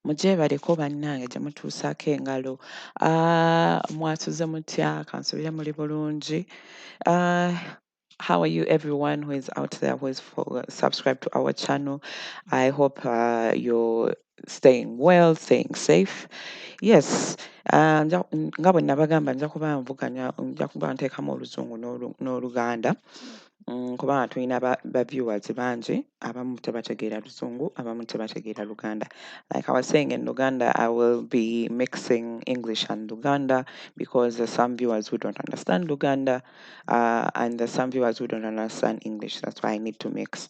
mugyebaleko bannange gye mutuusaako engalo ah, mwasuze mutya kansubire muli bulungi ah, how are you everyone who is out there who is for, subscribe to our channel i hope uh, you're staying well staying safe yes uh, nga bwe nabagamba nja kuba nvuganya nja kuba nteekamu oluzungu n'oluganda mm, kubanga tulina baviewers bangi abamu tebategeera luzungu abamu tebategeera luganda like i was saying in luganda i will be mixing english and luganda because there's some viewers who don't understand luganda uh, and there's some viewers who don't understand english that's why i need to mix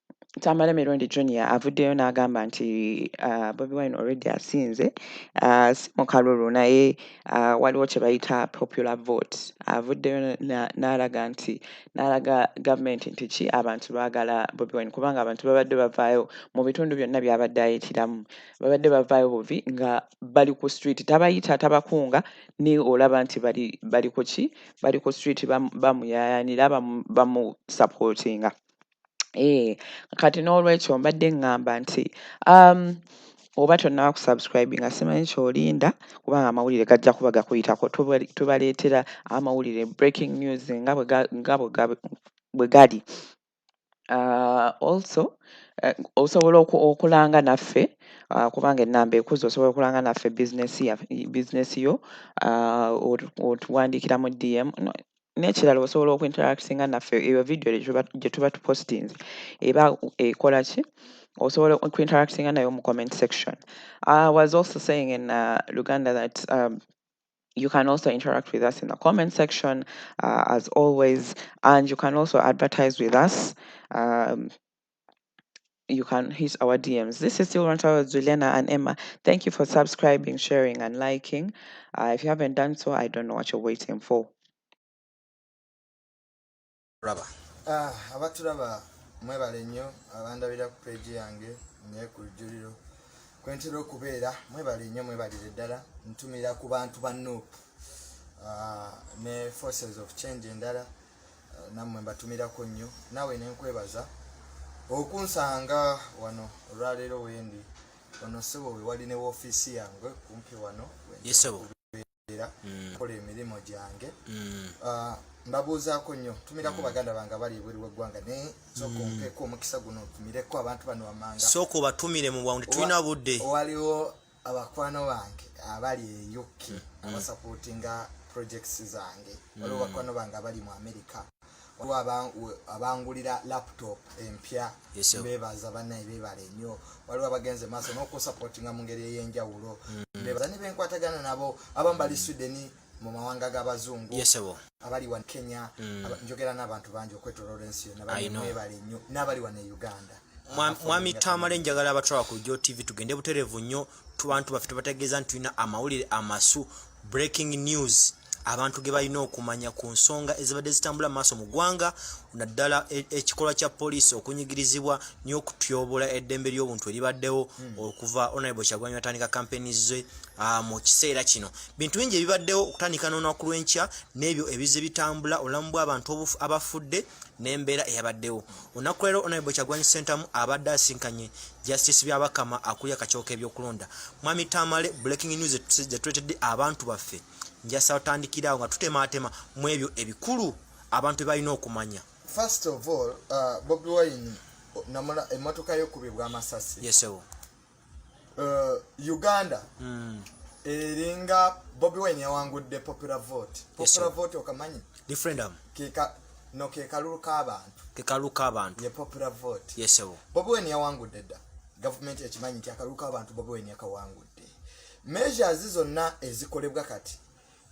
Tamale Mirundi Junior avuddeyo n'agamba nti uh, Bobi Wine already asinze uh, si mu kalulu naye uh, waliwo kye bayita popular vote avuddeyo n'alaga nti n'alaga gavumenti nti ki abantu baagala Bobi Wine kubanga abantu babadde bavaayo mu bitundu byonna byabadde ayitiramu babadde bavaayo buvi nga bali ku street tabayita tabakunga ni olaba nti bali bali ku ki bali ku street bamuyayanira bamusupportinga Eh, kati n'olwekyo mbadde ŋŋamba nti um, oba tonnaba kusubscribinga simanyi kyolinda kubanga amawulire gajja kuba gakuyitako tubaleetera amawulire breaking news nga bwe gali uh, also uh, osobola okulanga naffe uh, kubanga enamba ekuza osobola okulanga naffe bizinesi yo otuwandiikira mu dm n'ekirala osobola oku interactinga naffe eyo vidiyo gye tuba tupostinze eba ekola ki osobola oku interactinga nayo mu comment section i was also saying in uh, luganda that um, you can also interact with us in the comment section uh, as always and you can also advertise with us um, you can hit our DMs. This is still Rantawa with Juliana and Emma. Thank you for subscribing, sharing, and liking. Uh, if you haven't done so, I don't know what you're waiting for. Raba. Ah, abaturaba mwebale nnyo abandabira ku peegi yange naye ku lujjuliro kwentera okubeera mwebale nnyo mwebalire ddala ntumira ku bantu ba nup uh, ne forces of change endala nammwe mbatumirako nnyo naawe nenkwebaza okunsanga wano olwaleero wendi ono ssebo we wali ne woofiisi yange kumpi wano era mm. kola emirimu gyange mm. ah, mbabuuzaako nnyo tumirako mm. baganda bange abali ebweru weggwanga naye sooka ompeeko omukisa guno tumireko abantu bano wamanga sooka obatumire mu bwangu tetulina budde waliwo abakwano bange abali e uk mm. abasapotinga projects zange mm. waliwo bakwano bange abali mu america waliwo abangulira laptop empya bebaza banaye bebala enyo waliwo abagenze maaso nokusapotinga mu ngeri eyenjawulo mm. bebaza nebenkwatagana nabo abambali sweden mm. mu mawanga g'abazungu abali wa kenya mm. njogera n'abantu bangi okwetoloola ensi yona bamwebale nnyo n'abali wano e uganda mwami tamale njagala abatwala ku jo tv tugende buterevu nnyo tubantu baffe tubategeeza nti tulina amawulire amasu breaking news abantu ge balina okumanya ku nsonga ezibadde zitambula maaso mu ggwanga naddala e, ekikolwa kya poliisi okunyigirizibwa n'okutyobola eddembe ly'obuntu eribaddewo hmm. okuva onalebo kyagwanyi atandika kampeni ze Ah, mu kiseera kino bintu bingi ebibaddewo okutandika n'olunaku lw'enkya n'ebyo ebizze bitambula obulamu bw'abantu abafudde n'embeera eyabaddewo olunaku leero onaibo kyagwanyi sentamu abadde asinkanye justice byabakama akulya kakiwoko ebyokulonda mwami tamale breaking news zetuletedde abantu baffe njasa otandikiraawo nga tutemaatema mu ebyo ebikulu abantu bebalina okumanya first of all uh, bobi wine namula emmotoka yokubibwa amasasi yesewo yes, uh, uganda mm. eringa bobi wine yawangudde popular vote popular yes, vote okamanyi referendum kika no kekalulu k'abantu kekalulu k'abantu ye popular vote yes, bobi wine yawangudde dda gavumenti ekimanyi nti akalulu k'abantu bobi wine yakawangudde measures zonna ezikolebwa kati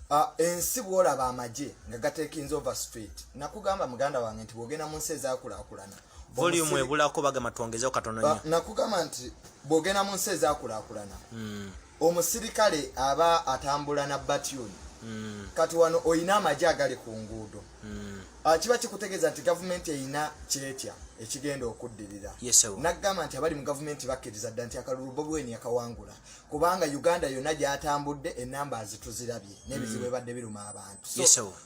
Ah, ensi bwolaba amagye nga gatekinze over street nakugamba muganda wange nti bwogenda mu nsi ezakulakulana volume ebulako bagamba twongezeho katono nyo ah, nakugamba nti bwogenda mu nsi ezakulakulana hmm. omusirikale aba atambula na batuni hmm. kati wano oyina amagye agali ku nguudo hmm. ah, kiba kikutegeeza nti gavumenti eyina kyetya ekigenda okuddirira nagamba nti abali mu gavumenti bakkiriza dda nti akalulu bobweni yakawangula kubanga uganda yonna gyatambudde enamba azituzirabye nebizibu mm. ebadde biruma abantu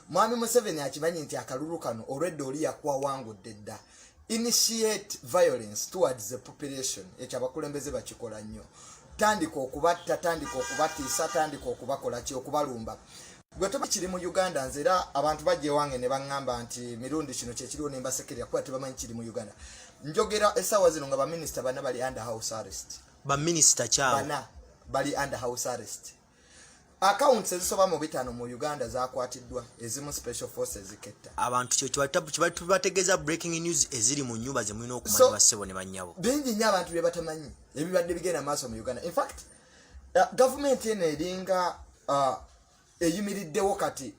mwami museveni akimanyi nti akalulu kano olwedda oli yakuwa wangudde dda initiate violence towards the population ekyo abakulembeze bakikola nnyo tandika okubatta tandika okubatiisa tandika okubakola ki okubalumba gwe toba kiri mu uganda nze era abantu bajja ewange ne baŋŋamba nti mirundi kino kyekiriwo nembasekerera kuba tebamanyi kiri mu uganda njogera essaawa zino nga baminisita bana bali under house arrest ba minister chao bana bali under house arrest accounts ezisoba mu bitano mu Uganda zakwatiddwa ezimu special forces ziketta abantu kyo kibatabu kibatubategeza breaking news eziri mu nyumba ze mulina okumanya so, basebo ne banyabo bingi nya abantu bye batamanyi ebibadde bigenda maaso mu Uganda in fact uh, government ene eringa uh, eyimiriddewo kati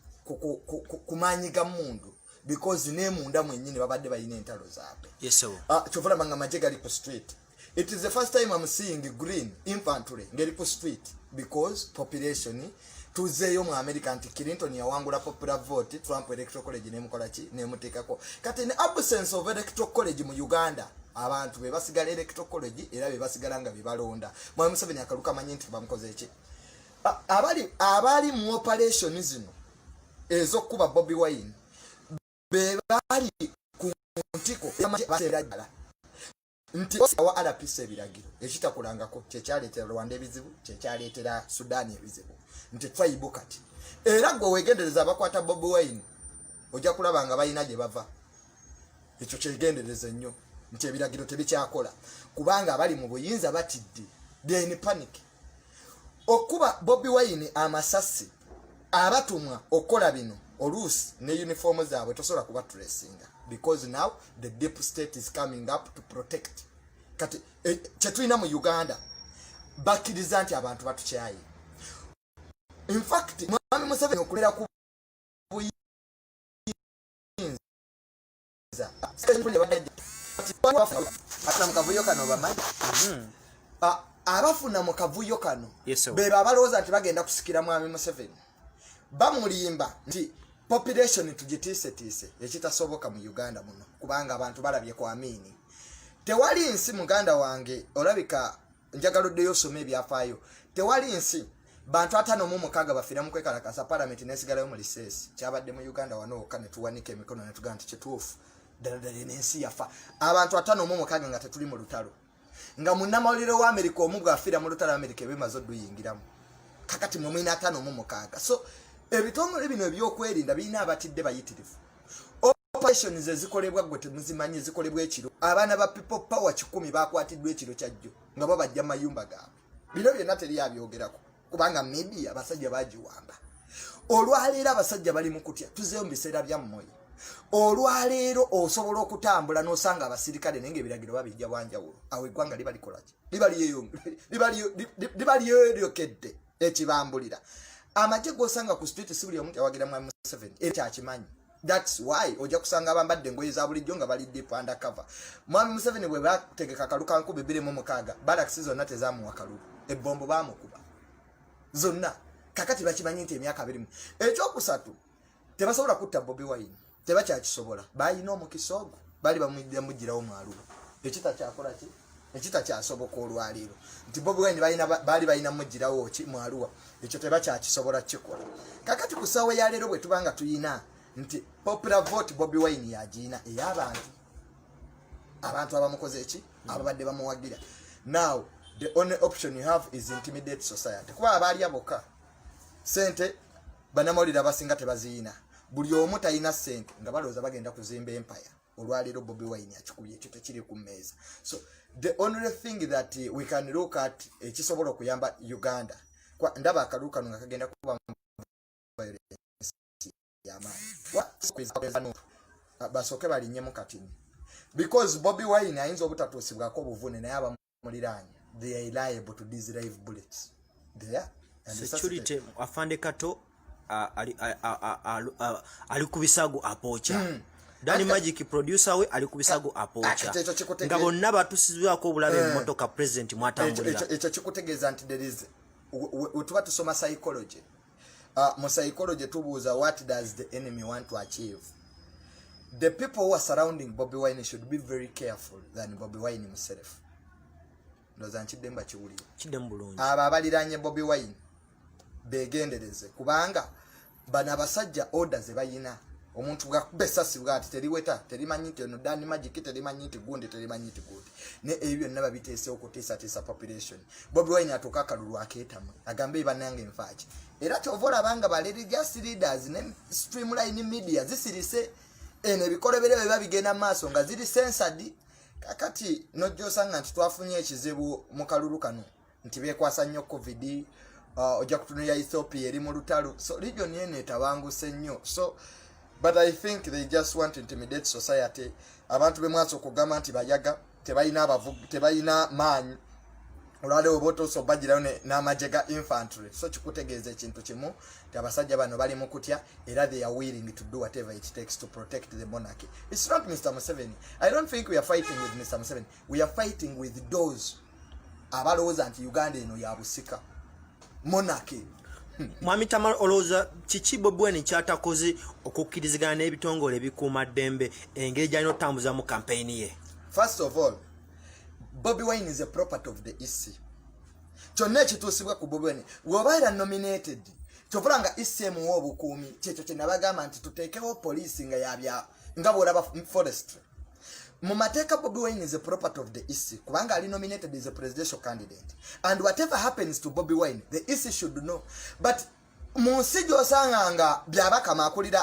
ku maanyi ga mundu because nemunda mwenyini babadde balina entalo zaabwe ah, kyova laba nga maje gali ku street it is the first time am seeing green infantry ngeri ku street because population tuzeeyo mu america nti clinton yawangula popular vote trump electoral college nemukolaki nemuteekako kati ne absence of electoral college mu uganda abantu bebasigala electoral college era bebasigala nga bebalonda mwami museveni akaluka manyi nti bamukoze eki abali abali mu operation zino ezokuba Bobby Wine be bali ku ntiko baterajala nti wa RPC ebiragiro ekitakulangako kyekyaleetera Rwanda ebizibu kyekyaleetera Sudan ebizibu nti twaibu kati era gwe wegendereza abakwata Bobby Wine ojja kulaba nga balina gye bava ekyo kyegendereza ennyo nti ebiragiro tebikyakola kubanga abali mu buyinza batidde then panic okuba bobi wine amasasi abatumwa okukola bino oluusi ne uniform zaabwe tosobola kuba turesinga because now the deep state is coming up to protect kati e, kyetulina mu uganda bakkiriza nti abantu batukyaye infact mwami museveni okulera ku abafuna mu kavuyo kano bebo abalowooza nti bagenda kusikira mwami museveni bamulimba nti population tugitiisetiise ekitasoboka mu uganda muno kubanga abantu balabye ku amiini tewali nsi muganda wange olabika njagala oddeyo osome ebyafaayo tewali nsi bantu atano mu mukaaga bafira mu kwekalakasa palamenti nesigalayo mu liseesi kyabadde mu uganda wano wokka netuwanika emikono netugaa nti kituufu ddaladala enensi yafa abantu atano mu mukaaga nga tetuli mu lutalo nga munnamawulire wa amerika omu bwafira mu lutalo amerika ebimaze oduyingiramu kakati mwe mwina atano mu mukaaga so ebitongole bino ebyokwerinda birina abatidde bayitirivu operation ze zikolebwa gwe temuzimanyi zikolebwa ekiro abaana ba people power kikumi bakwatiddwa ekiro kyajjo nga babajja mayumba gaabwe bino byonna teri abyogerako kubanga media abasajja bagiwamba olwaleero abasajja bali mu kutya tuzeyo mu biseera byammoyo olwaleero osobola okutambula n'osanga abasirikale naye nga ebiragiro babijja bwanjawulo awo eggwanga liba likolaki liba lyeryokedde ekibambulira amagye gosanga ku street si buli omu yawagira mwa museveni era kyakimanyi That's why ojja kusanga abambadde engoye za bulijjo nga bali deep under cover. Mwami Museveni bwe bategeka kalulu ka nkumi bbiri mu mukaaga balakisi zonna tezaamuwa kalulu, ebbombo baamukuba zonna. Kakati bakimanyi nti emyaka abirimu. Ekyokusatu tebasobola kutta Bobi Wine, tebakyakisobola. Baalina omukisa ogwo, baali bamujjirawo mwalulu. Ekita kyakola ki? ekitakyasoboka olwaleero nti bobi wine baali balina mugirawo ki mwaluwa ekyo tebakyakisobola kukikola kakati ku ssaawa ya leero bwe tuba nga tulina nti popular vote bobi wine yagirina ey'abantu abantu abamukoze eki ababadde bamuwagira now the only option you have is intimidate society kuba abaalya bokka sente banamawulire abasinga tebaziyina buli omu talina sente nga balowooza bagenda kuzimba empaya olwaleero bobi wine akikubye ekyo tekiri ku mmeeza so the only thing that eh, we can look at ekisobola eh, okuyamba uganda ndaba akalulu kano nga kagenda kuba yamaanyi basooke balinyemu katini because bobi wine ayinza obutatuusibwako obuvune naye abamu muliraanya they are liable to these live bullets they are security afande kato ali ku bisago apooca hmm. dani magic producer we ali ku bisago apooca nga bonna batusizibwako obulabe mu eh. motoka president mwatambulira ekyo kikutegeeza nti there is wetuba tusoma psychology uh, mu psychology tubuuza what does the enemy want to achieve the people who are surrounding bobi wine should be very careful than bobi wine himself ndoza nkidde mba kiwulire kidde mu bulungi abo abaliranye bobi wine begendereze kubanga bano abasajja order ze bayina omuntu bwakuba esasi bwati teriweta terimanyi nti ono dani magiki terimanyi nti gundi terimanyi nti gundi ne ebyo byonna babiteesewo kutiisatiisa population bobi wine atuuka akalulu akeetamu agambe banange nfaaki era kyova olaba nga ba religious leaders ne streamline media zisirise eno ebikolobere bwe biba bigenda mu maaso nga ziri sensadi kakati nojja osanga nti twafunye ekizibu mu kalulu kano nti bekwasa nnyo covid uh, ojja kutunulira ethiopia eri mu lutalo so region eno etabanguse nnyo so but i think they just want to intimidate society abantu bemwasa okugamba nti bayaga tebalina abavubi tebalina maanyi olwale oba otuusa obajirayo n'amagye ga infantry so kikutegeeza ekintu kimu nti abasajja bano bali mu kutya era they are willing to do whatever it takes to protect the monarchy its not mr museveni i don't think we are fighting with mr museveni we are fighting with those abalowooza nti uganda eno yabusika monarchy mwami tamar olowooza kiki bobi wine kyatakoze okukkirizigana n'ebitongole ebikuuma ddembe engeri gyalina okutambuzamu kampeyini ye first of all bobi wine is a property of the ec kyonna ekituusibwa ku bobi wine woba era nominated kyovula nga ec emuwa obukuumi kyekyo kyenabagamba nti tuteekewo poliisi nga yabya nga bwolaba forestry mu mateeka bobi wine is a property of the ec kubanga ali nominated is a presidential candidate and whatever happens to bobi wine the ec should know but mu nsi gyosanga nga byabakama akulira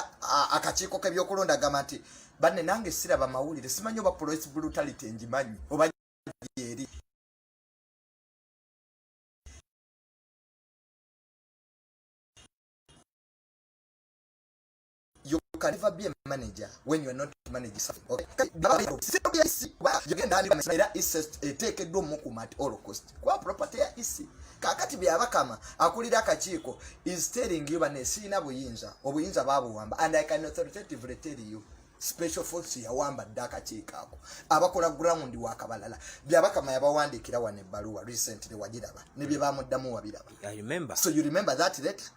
akakiiko kebyokulonda gamba nti banne nange siraba mawulire simanyi oba police brutality ngimanyi oba eri you can never be a manager when you are not managing something okay yogenda andika era isest eteekeddwa omukuma at all cost kuba property ya isi kakati byabakama akulira akakiiko is telling you bane siina buyinza obuyinza babuwamba and i can authoritatively tell you special force yawamba dda akakiiko ako abakola ground wakabalala byabakama yabawandiikira wano ebbaluwa recently wagiraba nebye bamuddamu wabiraba so you remember that letter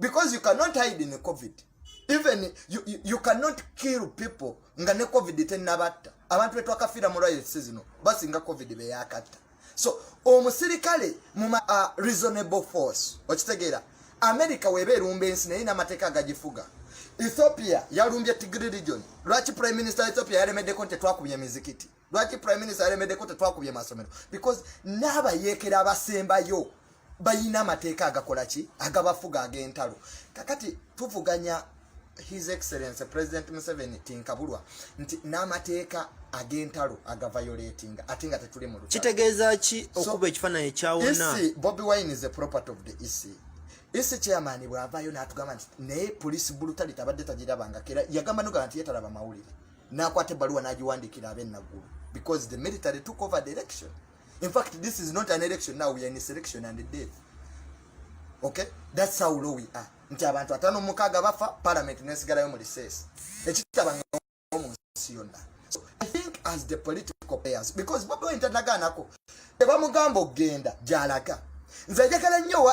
because you cannot hide in covid even you, you, you cannot kill people nga ne covid tenabatta abantu betwakafiira mu riots zino basinga covid beyakatta so omusirikale mu uh, reasonable force okitegeera america weba erumba ensi naye namateeka agagifuga ethiopia yalumbye tigri region lwaki prime minister ethiopia yalemeddeko nti tetwakubye mizikiti lwaki prime minister alemedeko tetwakubye masomero because n'abayeekera abasembayo bayina amateeka agakola ki agabafuga ag'entalo kakati tuvuganya his excellence president museveni tinkabulwa nti n'amateeka ag'entalo agavayoletinga ate nga tetuli mu kitegeeza ki okuba ekifaananyi ekyawona e bobi wine is a property of the ec ese chairman bwavayo natugamba nti naye police bulutali tabadde tagirabangako era yagamba nogamba nti yetalaba mawulire n'akwata ebbaluwa n'agiwandiikira ab'e Naggulu because the military took over the election in fact this is not an election now we are in a selection and death okay that's how low we are nti abantu atano mukaaga bafa parliament nesigalayo mu recess ekitaba mu nsi yonna so i think as the political players because bobi wine tanaganako tebamugamba okugenda gyalaga nze njagala nnyo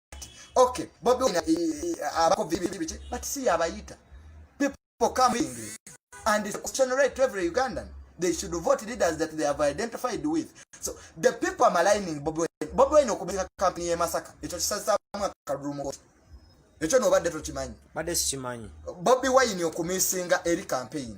okay bobi wine eh, eh, abako bibibiti but see abayita people coming and it's question right to every ugandan they should vote leaders that they have identified with so the people are maligning bobi wine bobi wine okubika company ye masaka echo kisasa mwa karumo echo no bade to chimanyi bade sichimanyi bobi wine okumisinga eri campaign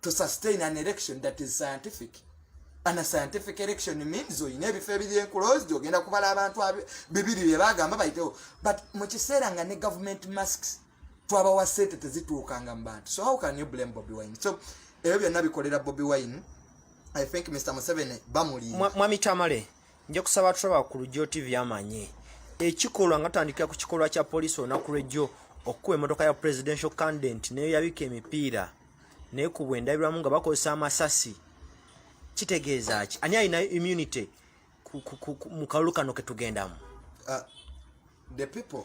to sustain an election that is scientific and a scientific election means oyina ebifo ebiri enclosed ogenda kubala abantu bibiri bye bagamba bayitewo but mu kiseera nga ne government masks twabawa sente tezituukanga mu bantu so how can you blame bobi wine so ebyo byonna bikolera bobi wine i think mr museveni bamulimba mwami tamale nja kusaba tulaba ku lugyo tv amanye ekikolwa nga tutandikira ku kikolwa kya poliisi olunaku lwejjo okukuba emotoka ya presidential candident neyo yabika emipiira naye ku bwendabirwamu nga bakozesa amasasi kitegeeza ki ani alina immunity mu kalulu kano ketugendamu uh, the people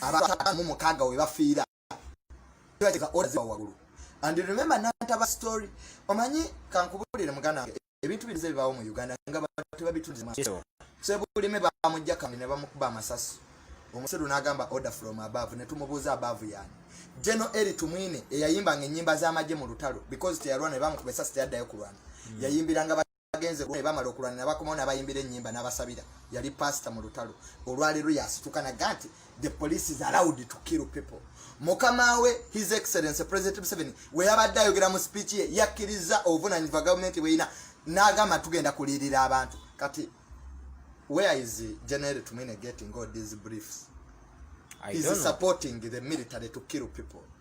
abatamu mukaaga we bafiira bateka oda ziba wagulu and remember nantaba story omanyi kankubulire mugana wange ebintu birize bibaawo mu uganda nga bantu babitundizemasebo sebulime bamujja kandi ne bamukuba amasasi omusiru n'agamba order from above ne tumubuuza above yani geno eri tumwine eyayimbanga ennyimba z'amagye mu lutalo because teyalwana ne bamukuba esasi teyaddayo kulwana hmm. yayimbiranga bagenze ne bamala okulwana ne bakomawo n'abayimbira ennyimba n'abasabira yali pasita mu lutalo olwaleero yasituka naga nti the police is allowed to kill people mukama we his excellence president museveni we yabadde ayogera mu speech ye yakkirizza obuvunanyizibwa gavumenti bweyina n'agamba tugenda kulirira abantu kati where is general tumine getting all these briefs is supporting the military to kill people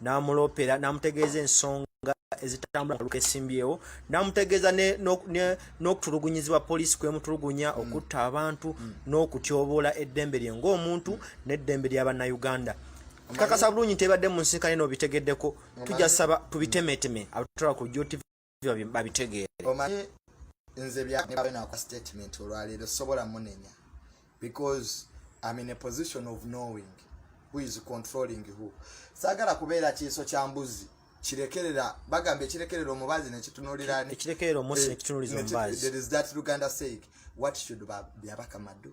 n'amuloopera n'amutegeeza ensonga ezitambula kaluka esimbyewo namutegeeza n'okutulugunyizibwa poliisi kwemutulugunya mm. okutta abantu mm. n'okutyoboola eddembe lye ng'omuntu n'eddembe lya bannayuganda kakasa bulungi nti ebadde mu nsinkane n'obitegeddeko tujja saba tubitemeteme abatola ku jotv babitegeere omanyi nze byababe nakwa statement olwaleero sobola munenya because im in a position of knowing who is controlling who sagala kubeera kiiso kya mbuzi kirekerera bagamba ekirekerera omubazi nekitunulira ekirekerera omusi eh, nekitunuliza omubazi there is that luganda saying what should byabaka madu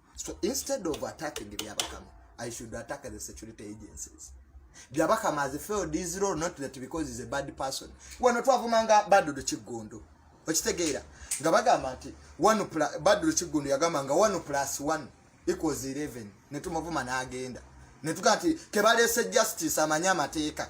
So instead of attacking Byabakama, I should attack the security agencies. Byabakama has failed his role, not that because he's a bad person. Wano twavumanga Badru Kiggundu. Okitegeera nga bagamba nti Badru Kiggundu yagamba nga 1 plus 1 equals 11 ne tumuvuma n'agenda ne tugamba nti kebaleese justice amanye amateeka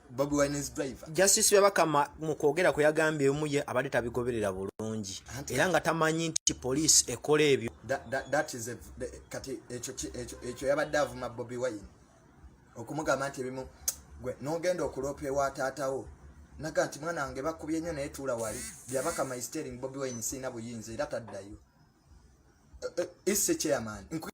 Bobi Wine's driver. Justice Byabakama mu kwogera kwe yagambye omu ye abadde tabigoberera bulungi era nga tamanyi nti poliisi ekola ebyo. Kati ekyo yabadde avuma Bobi Wine okumugamba nti ebimu gwe n'ogenda okuloopa ewa taatawo naga nti mwana wange bakubye nnyo naye tuula wali Byabakama is telling Bobi Wine siina buyinza era taddayo. Eh, eh, Isse chairman.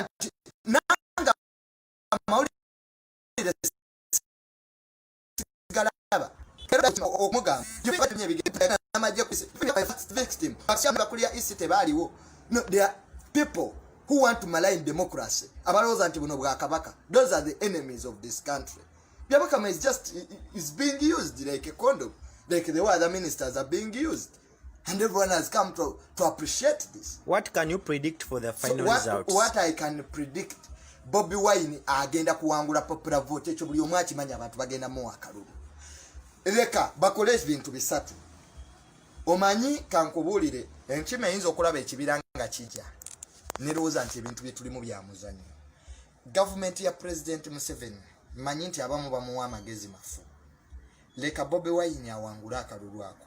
nti nanga amawulire sigalaba omugambakulira isi tebaaliwo people who want to malign democracy abalowooza nti buno bwakabaka those are the enemies of this country byabakama is just is being used like a condom like the way other ministers are being used And everyone has come to, to appreciate this. What can you predict for the final so what, results? What I can predict, Bobby Wine agenda kuwangula popular vote ekyo buli omu akimanyi abantu bagenda mu akalulu. Leka bakole ebintu bisatu. Omanyi kankubuulire enkima eyinza okulaba ekibira nga kijja. Nerowooza nti ebintu bye tulimu bya muzanyo. Gavumenti ya Pulezidenti Museveni manyi nti abamu bamuwa amagezi mafu. Leka Bobby Wine awangule akalulu ako.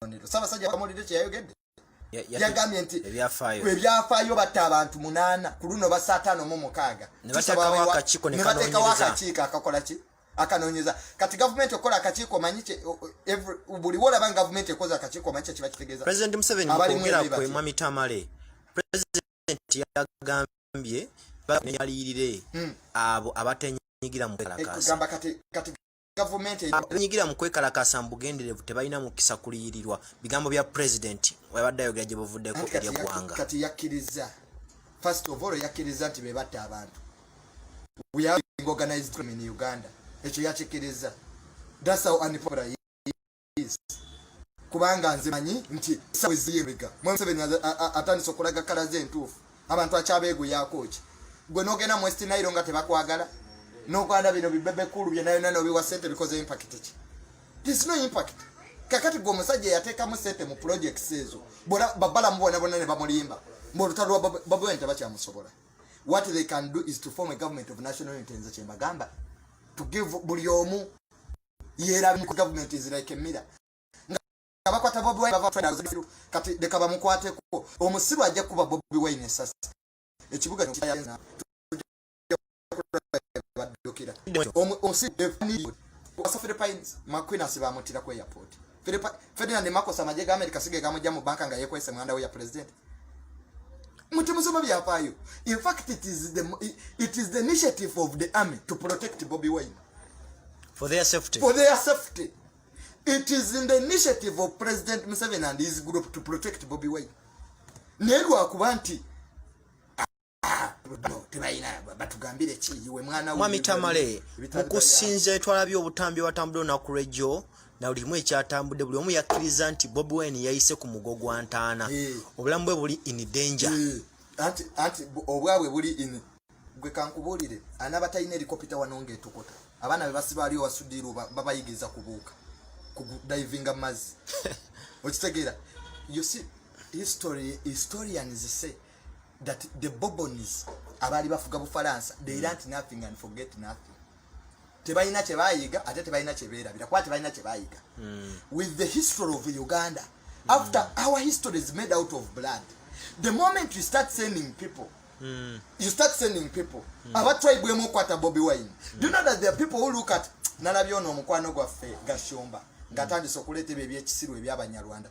kabonero sabasajja kamulide kyeyayogedde yagambye nti ebyafaayo batta abantu munaana ku luno basa ataano mu mukaaga nebatekawo akakiiko akakola ki akanonyeza kati gavumenti okukola akakiiko manyi buli wolaba nga gavumenti ekoze akakiiko manyi kyekiba kitegeeza president museveni mukwogera kwe mwami tamale president yagambye yaliyirire hmm. abo abatenyigira mu kalakasa gavumenti abanyigira mu kwekalakaasa mu bugenderevu tebalina mukisa kuliyirirwa bigambo bya pulezidenti webadde ayogera gye buvuddeko eri eggwanga kati yakkirizza first of all yakkirizza nti be batta abantu wearing organized crime in uganda ekyo yakikkirizza that's how unpopular please kubanga nze manyi nti esawe ziyemega mwe museveni atandise okulaga kala ze entuufu abantu akyabeeguyako ki gwe nogenda mu west nairo nga tebakwagala nogwanda bino bibebe kulu byenayona nobiwa sente bikoze impact ki there's no impact kakati gwe omusajja eyateekamu sente mu projects ezo bona babala mubona bona ne bamulimba mbu olutalo lwa babwene tebakyamusobola what they can do is to form a government of national unity nze kyembagamba to give buli omu yerabi ku government is like a mirror nga bakwata bobi wine bava finals kati deka bamukwate ko omusiru ajja kuba bobi wine sasa ekibuga kyo kya na badokira omusiru defini wasafiri pines makwina sibamutira ku airport Philip Ferdinand Marcos amaje ga America sige gamuja mu banka nga yekwese mwanda ya president mutimusoma byapayo in fact it is the it is the initiative of the army to protect Bobby Wine for their safety for their safety it is in the initiative of President Museveni and his group to protect Bobby Wine nelwa kubanti mwami tamale mukusinza etwalabye obutambi watambudde olunaku lwejjo na buli kimu ekyatambudde buli omu yakkiriza nti bobi wine yayise ku mugo gwa ntaana eh. obulamu bwe buli in danger eh. anti obwabwe buli in gwe kankubuulire anaaba talina erikopita wano ngaetukuta abaana be basibaali owasudiiru babayigiriza kubuuka kudivinga mazzi okitegeera you see history historians say that the bobons abaali bafuga bufalansa they learnt nothing and forget nothing tebalina kyebayiga ate tebalina kyeberabira kuba tebalina kyebayiga hmm. with the history of uganda hmm. after our history is made out of blood the moment you start sending people Mm. you start sending people mm. abatwaibwemu okwata bobi wine mm. do you know that there are people who look at nalabye ono omukwano gwaffe gashomba ngatandise okuleeta ebyo ebyekisiru ebyabanyarwanda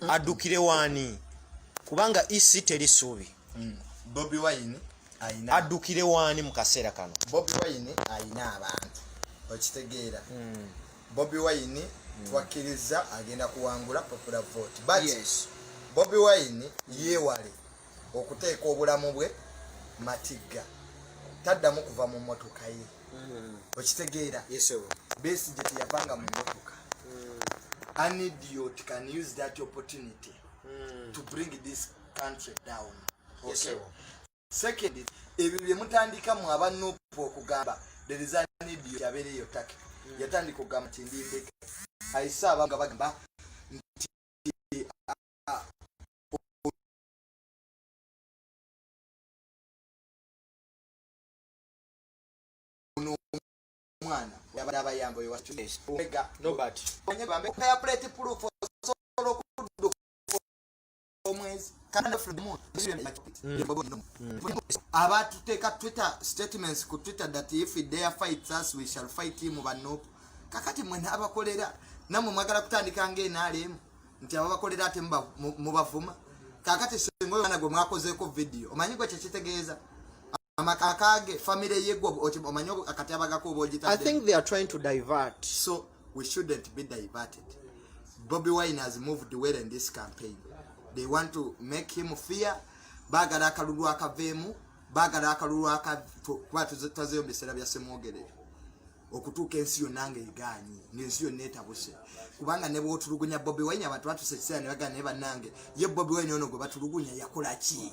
mm. addukire waani kubanga ec teri suubi mm. bobi wine addukire waani mu kaseera kano bobi wine alina abantu okitegeera mm. bobi wine mm. twakkiriza agenda kuwangula popular vote but yes. bobi wine yeewale okuteeka obulamu bwe matigga taddamu kuva mu motoka ye mm. okitegeera besigye teyavanga mu motoka mm. an idiot can use that opportunity mm. to bring this country down okay. second ebyo byemutandika mu abanupu okugamba there is an idiot abeereyo take yatandika okugamba nti ndindeke ayise abanga bagamba omwana yabadde abayamba oyo waega nobert onye bambe kaya plate proof osobola okudduka omwezi abatuteeka twitter statements ku twitter that if dare fights us we shall fight him banop kakati mwena abakolera namwe mwagala kutandika nga enaalemu nti ababakolera ate mubavuma kakati senga oyo mwana gwe mwakozeeko vidiyo omanyi gwe kyekitegeeza amakakage family ye gwo omanyo akati abagako obojita i think they are trying to divert so we shouldn't be diverted bobi wine has moved well in this campaign they want to make him fear bagala akalulu akaveemu bagala akalulu akakuba tazeyo biseera bya semwogerere okutuuka ensi yonna nga egaanyi ngaensi yonna etabuse kubanga ne bwotulugunya bobi wine abantu batuse ekiseera ne bagana naye bannange ye bobi wine ono gwe batulugunya yakola ki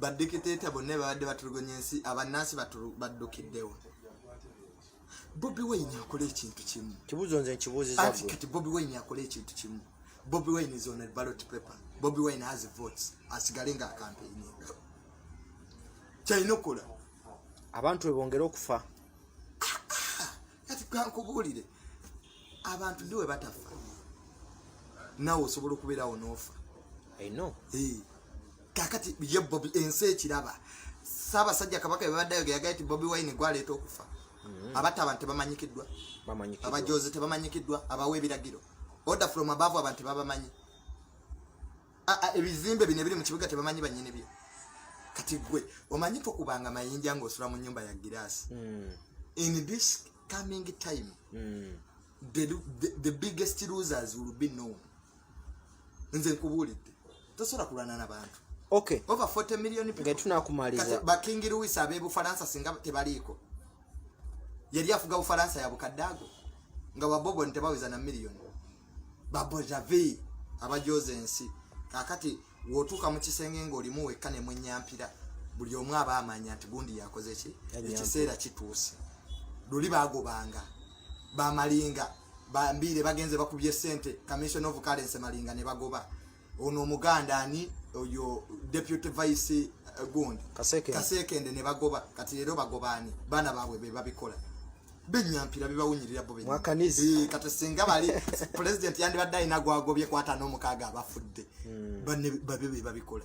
badikiteeta bonna babadde batulugonya ensi abannansi baddukiddewo bobi wayini akola ekintu kimu kibuzo nze nkibuuzizaati kati bobi wayini akola ekintu kimu bobi wayini is on a ballot paper bobi wayini has votes asigale nga akampeyini kyalina okukola abantu webongere okufa kati kankubuulire abantu ndiwe batafa nawe osobola okubeerawo noofa ino kakati ye bobi ensi ekiraba ssaabasajja kabaka bebadde ayoge yagaye ti bobi wine gwaleeta okufa mm-hmm. abatta abantu tebamanyikiddwa abajozi tebamanyikiddwa abawa ebiragiro order from above abantu tebabamanyi ebizimbe bino ebiri mu kibuga tebamanyi banyini bye kati gwe omanyi tokubanga mayinja ngaosula mu nyumba ya giraasi mm. in this coming time mm. the, the, the biggest losers will be known nze nkubuulidde tosobola kulwana na bantu okay over 40 million people nga tunakumaliza ba king louis abe bufaransa singa tebaliiko yali afuga bufaransa ya bukaddago nga wabobo ntebaweza na million babo javi abajoze ensi kakati wotuuka mu kisenge ng'olimu wekka ne mwenyampira buli omu aba amanya nti gundi yakoze ki ekiseera kituuse luli bagobanga bamalinga bambiire bagenze bakubye sente commission of currency malinga ne bagoba ono omuganda ani oyo deputy vice eh, gund kasekende ne bagoba kati leero bagobaani baana baabwe be babikola benyampira bibawunyirira bo eh, kati singa bali pulezidenti yandibadde alina gwagobye kwata n'omukaaga abafudde hmm. babe be babikola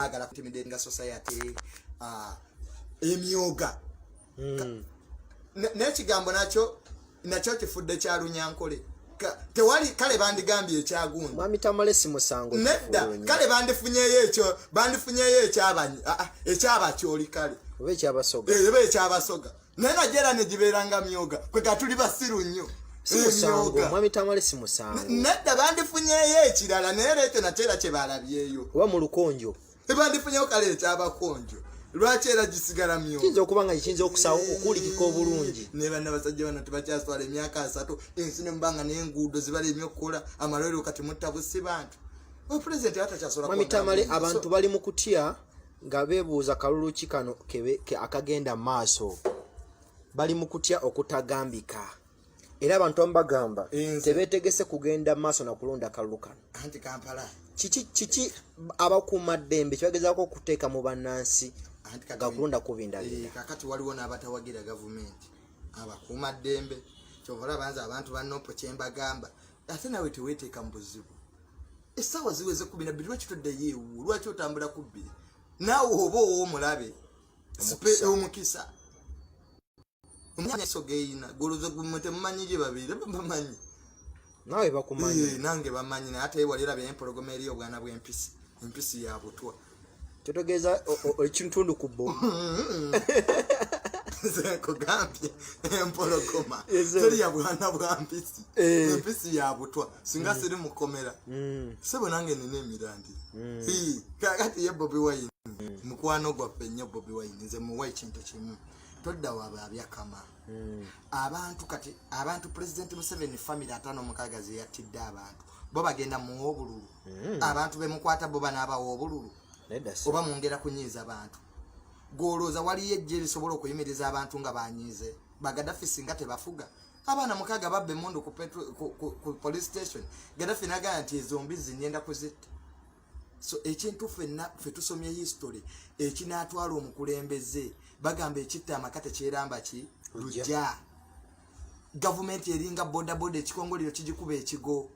agala kutimide nga society ah, emyoga hmm. n'ekigambo nakyo nakyo kifudde kya lunyankole tewali kale bandigambye ekyagundi mwami tamale si musango nedda kale bandifunyeyo ekyo bandifunyeyo ekyabanyi ah, ah, ekyabakyoli kale oba ekyabasoga eh, oba ekyabasoga naye najera negibeeranga myoga kwega tuli basiru nnyo nedda bandifunyeyo ekirala naye leekyo nate era kyebalabyeyo oba mu lukonjo ebandifunyeyo kale ekyabakonjo lwaki era gisigala myokiyinza okuba nga kiyinza okusawo okuwulikika obulungi naye banna basajja bano tebakyaswala emyaka asatu ensi nemubanga nenguudo zibala emyokukola amalwero kati mutta busi bantu opresidenti atakyasola abantu bali mu kutya nga beebuuza kalulu ki kano akagenda mu maaso bali mu kutya okutagambika era abantu amu bagamba tebeetegese kugenda mu maaso na kulonda kalulu kano anti kampala kiki kiki abakuuma ddembe kyebagezaako okuteeka mu bannansi nga kulonda kubindabira eh, kakati waliwo n'abatawagira gavumenti abakuuma ddembe kyova olaba nze abantu banopo kyembagamba ate nawe teweeteeka mu buzibu essaawa ziweze kumi nabbiri lwaki toddayo ewuwo lwaki otambula ku bbiri naawe oba owomulabe omukisa omuso geyina goloza gumwe temumanyi gye babeire bamanyi nawe bakumanyi eh, nange bamanyi naye ate waliraba empologoma eriyo obwana bwempisi empisi yabutwa kyotegeeza ekitundu ku bo nkugambye empologoma teri ya bwana bwa mpisi eh. empisi ya butwa singa mm. siri mukomera mm. sebo nange nina emirandira mm. kakati ye bobi wine mukwano gwaffe nnyo bobi wine nze muwa ekintu kimu todda waba abyakama hmm. abantu kati abantu president museveni family atano mukaga zeyatidde abantu bo bagenda muwa obululu hmm. abantu bemukwata bo banaabawa obululu oba mwongera kunyiiza abantu gwolooza waliyo ejje lisobola okuyimiriza abantu nga banyiize bagadafi singa tebafuga abaana mukaga babba emundu ku police station gadafi nagaya nti ezombi zinyenda kuzitta so ekintu fenna fe tusomye history ekinatwala omukulembeze bagamba ekitta amaka tekyeramba ki lujja gavumenti eringa bodaboda ekikongolero kigikuba ekigo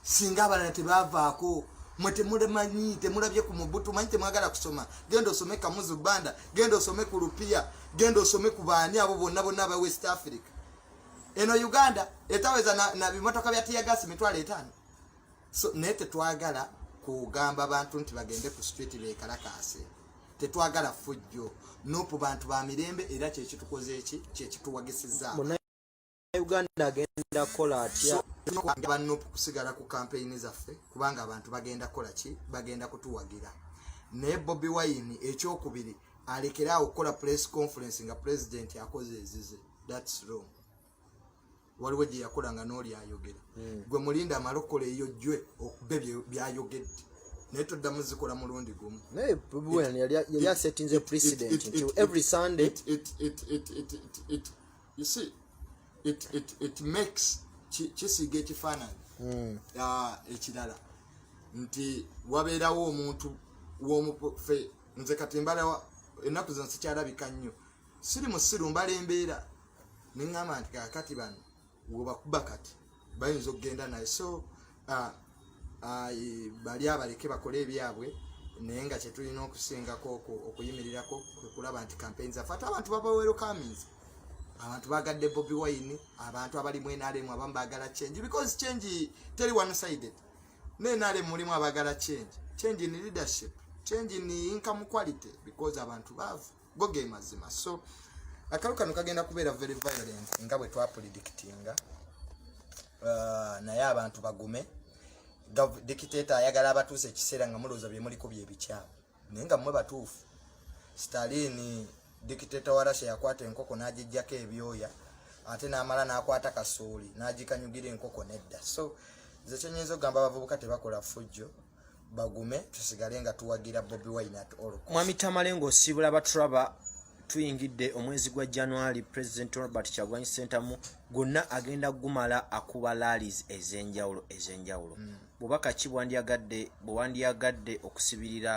singa abalala tebavaako mwe temulemanyi temulabye ku mubutu manyi temwagala kusoma genda osome kamuzu banda genda osome ku lupiya genda osome ku baani abo bonna bonna aba west africa eno uganda etaweza na, na bimotoka bya tiyagasi mitwalo etaano so naye tetwagala kugamba bantu nti bagende ku street bekalakaase tetwagala fujjo nopu bantu ba mirembe era kyekitukoze eki kyekituwagisiza uganda agenda kukola atya ba nopu kusigala ku kampeyini zaffe kubanga abantu bagenda kukola ki bagenda kutuwagira naye bobi wayini ekyokubiri alekere awo okukola press conference nga pulezidenti akoze ezize thats wrong waliwo gye yakola nga n'oli ayogera hmm. gwe mulinda amala okukola eyo jwe okube byayogedde naye toddamu zikola mulundi gumu yali asetinze president nti every sunday you see it, it, it makes kisiiga ekifaananyi hmm. ah, ekirala nti wabeerawo omuntu w'omufe nze kati mbalawa ennaku zino sikyalabika nnyo siri musiru mbala embeera neŋŋamba nti kakati bano webakuba kati bayinza okugenda naye so uh, uh, bali abaleke bakole ebyabwe naye nga kyetulina okusingako okuyimirirako kwekulaba nti kampeni zaffe ate abantu babawero kaminzi abantu bagadde bobi wine abantu abali mu nrm abamu bagala change because change teri one sided ne nrm mulimu abagala change change in leadership change in income quality because abantu baavu go ge mazima so akalu kano kagenda kubeera very violent nga bwe twapulidictinga uh, naye abantu bagume dictator ayagala abatuusa ekiseera nga mulowooza bye muliko bye bikyamu naye nga mmwe batuufu stalini dictator wa russia yakwata enkoko n'agijjako ebyoya ate n'amala n'akwata kasooli n'agikanyugira enkoko nedda so nze kyenyinza okugamba abavubuka tebakola fujjo bagume tusigale nga tuwagira bobi wine at all mwami tamale ng'osiibula baturaba tuyingidde omwezi gwa january president robert kyagwanyi sentamu gwonna agenda kugumala akuba lalis ez'enjawulo ez'enjawulo mm. bubaka ki bwandyagadde bwewandyagadde okusibirira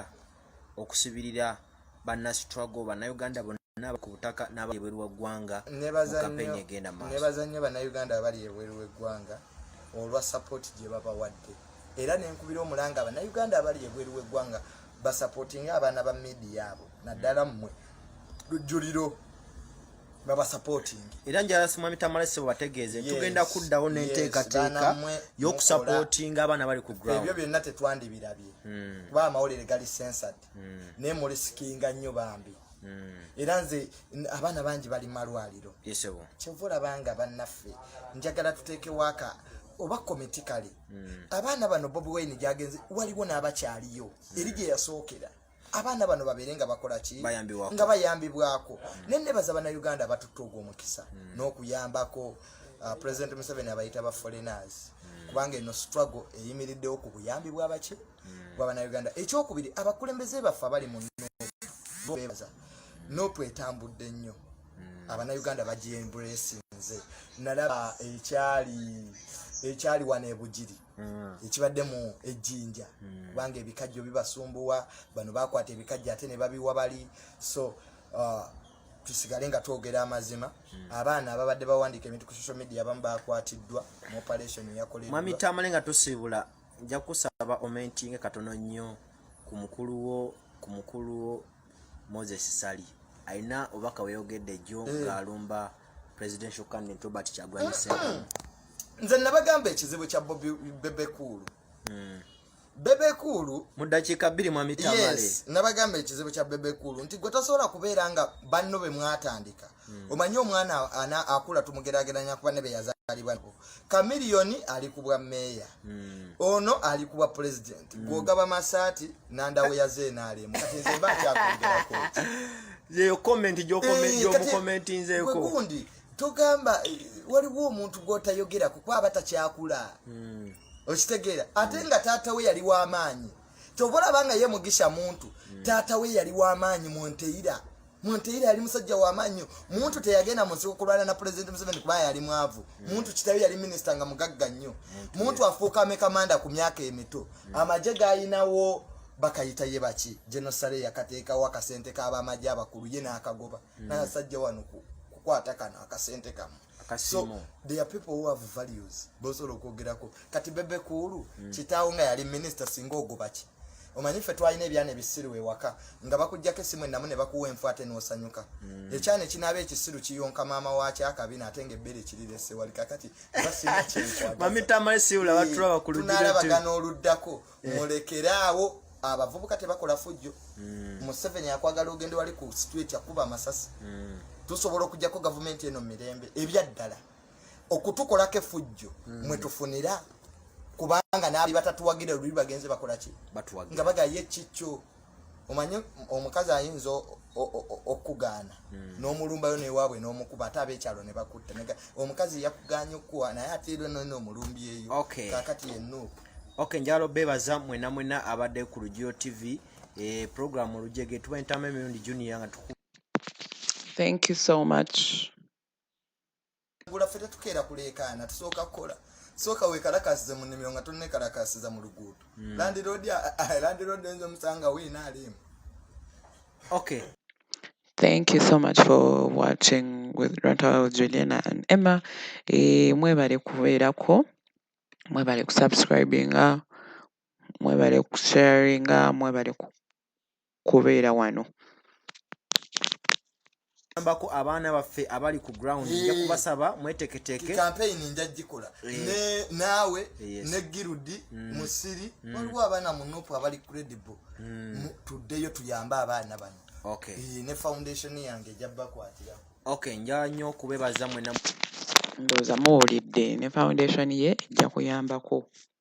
okusibirira bannastruggle bannauganda n'aba ku butaka n'aba ebweru wa ggwanga mukampeyini egenda maaso nebaza nnyo bannayuganda abali ebweru w'eggwanga olwa sapooti gye babawadde era nenkubira omulanga bannayuganda abali ebweru w'eggwanga basapootinga abaana ba midiya abo naddala mmwe lujjuliro babasapootingi era njala simwami tamale sebo bategeeze tugenda kuddawo n'enteekateeka y'okusapootinga abaana bali ku ground ebyo byonna tetwandibirabye hmm. kuba amawulire gali sensati mm. naye mulisikinga nnyo bambi mm. era nze abaana bangi bali malwaliro kyova olabanga bannaffe njagala tuteekewaka oba komiti kale mm. abaana bano bobi wine gyagenze waliwo n'abakyaliyo mm. eri gye yasookera abaana bano babeere nga bakola ki nga bayambibwako mm. naye nebaza banauganda batutte ogwo omukisa mm. n'okuyambako uh, president museveni abayita ba foreigners mm. kubanga eno struggle eyimiriddewo ku buyambi bwabaki mm. hmm. gwa banauganda ekyokubiri abakulembeze baffe abali mu bebaza nopu etambudde nnyo hmm. abanauganda bagyembulesinze nalaba ekyali ekyali wano ebugiri hmm. ekibadde mu ejjinja kubanga ebikajjo bibasumbuwa bano bakwata ebikajjo ate ne babiwa bali so uh, tusigale nga twogera amazima hmm. abaana ababadde bawandiika ebintu ku social media abamu bakwatiddwa mu operation eyakoleddwa mwami tamale nga tusiibula nja kusaba omentinge katono nnyo ku mukulu wo ku mukulu wo moses sali alina obubaka weyogedde jjo eh. ng'alumba presidential candidate robert kyagulanyi sentamu nze nabagamba ekizibu kya bobi bebekuulu hmm. bebekuulu mu ddakiika bbiri mwamitamale nabagamba ekizibu kya bebekuulu nti gwe tasobola kubeera nga banno be mwatandika hmm. omanyi omwana akula tumugerageranya kuba ne beyazalibwa kamiliyoni ali ku bwa meeya hmm. ono ali ku bwa pulezidenti hmm. gwogaba masaati nandawo yazeenaalemu kati nze mba nkyakwongerako yeyo komenti gyomukomentinzeekogundi eh, togamba eh, waliwo omuntu gwotayogerako kuba aba takyakula okitegeera ate nga taata we yali w'amaanyi kyova olaba nga ye mugisha muntu mm. taata we yali wamaanyi munteira munteira yali musajja wamaanyi muntu teyagenda munsiko kulwana na pulezidenti museveni kuba yali mwavu mm. muntu kitayo yali minisita nga mugagga nnyo muntu afuuka amekamanda ku myaka emito mm. amagye gayinawo bakayita ye baki genosale yakateekawo akasente kabamagye abakulu ye naakagoba mm. nayasajja wano kukwata kano akasente kamu so there are people who have values bosobola okwogerako kati bebe kuulu mm. kitaawo nga yali minisita singa ogubaki omanyi ffe twalina ebyana ebisiru ewaka nga bakujjako esimu enamu ne bakuwa enfu ate n'osanyuka mm. ekyana ekinaaba ekisiru kiyonka maama waakyo akabina ate nga ebbeere ekirirese wali kakati basinakyenkwatunaalabagana oluddako eh. mulekere awo abavubuka tebakola fujjo hmm. museveni akwagala ogende wali ku street akuba amasasi hmm. tusobola okujjako gavumenti eno mumirembe ebyaddala okutukolako efujjo hmm. mwetufunira kubanga naali batatuwagira luli bagenze bakolaki nga bagaye kikyo omanyi omukazi ayinza okugaana hmm. n'omulumbayo newaabwe n'omukuba ate ab'ekyalo ne bakutta omukazi yakuganya okukuwa naye ate era nona omulumbi eyo kakati yenuupu ok njalo bebaza mwena mwena abadde ku lugio tv e, eh, programu olujege tuba entama emirundi junior nga tuku thank you so much gula ffe tetukeera kuleekaana tusooka kukola sooka wekalakasize mu nnimiro nga tonnekalakasiza mu luguudo hmm. landiroodi landiroodi oyinza omusanga wiina aliimu okay Thank you so much for watching with Ranta with Juliana and Emma. E, mwebale kubeerako, mwebale kusubscribinga, mwebale kusharinga, mwebale ku kubeera wano. yambako abaana baffe abali ku ground nja kubasaba mweteketeeke campaign nja gikola ne naawe ne girudi mm. musiri mm. waliwo abaana mu nupu abali credible mm. tuddeyo tuyambe abaana bano okay ne foundation yange ejja bakwatira okay nja nyo kubebaza mwena ndooza muwulidde ne foundation ye ejja kuyambako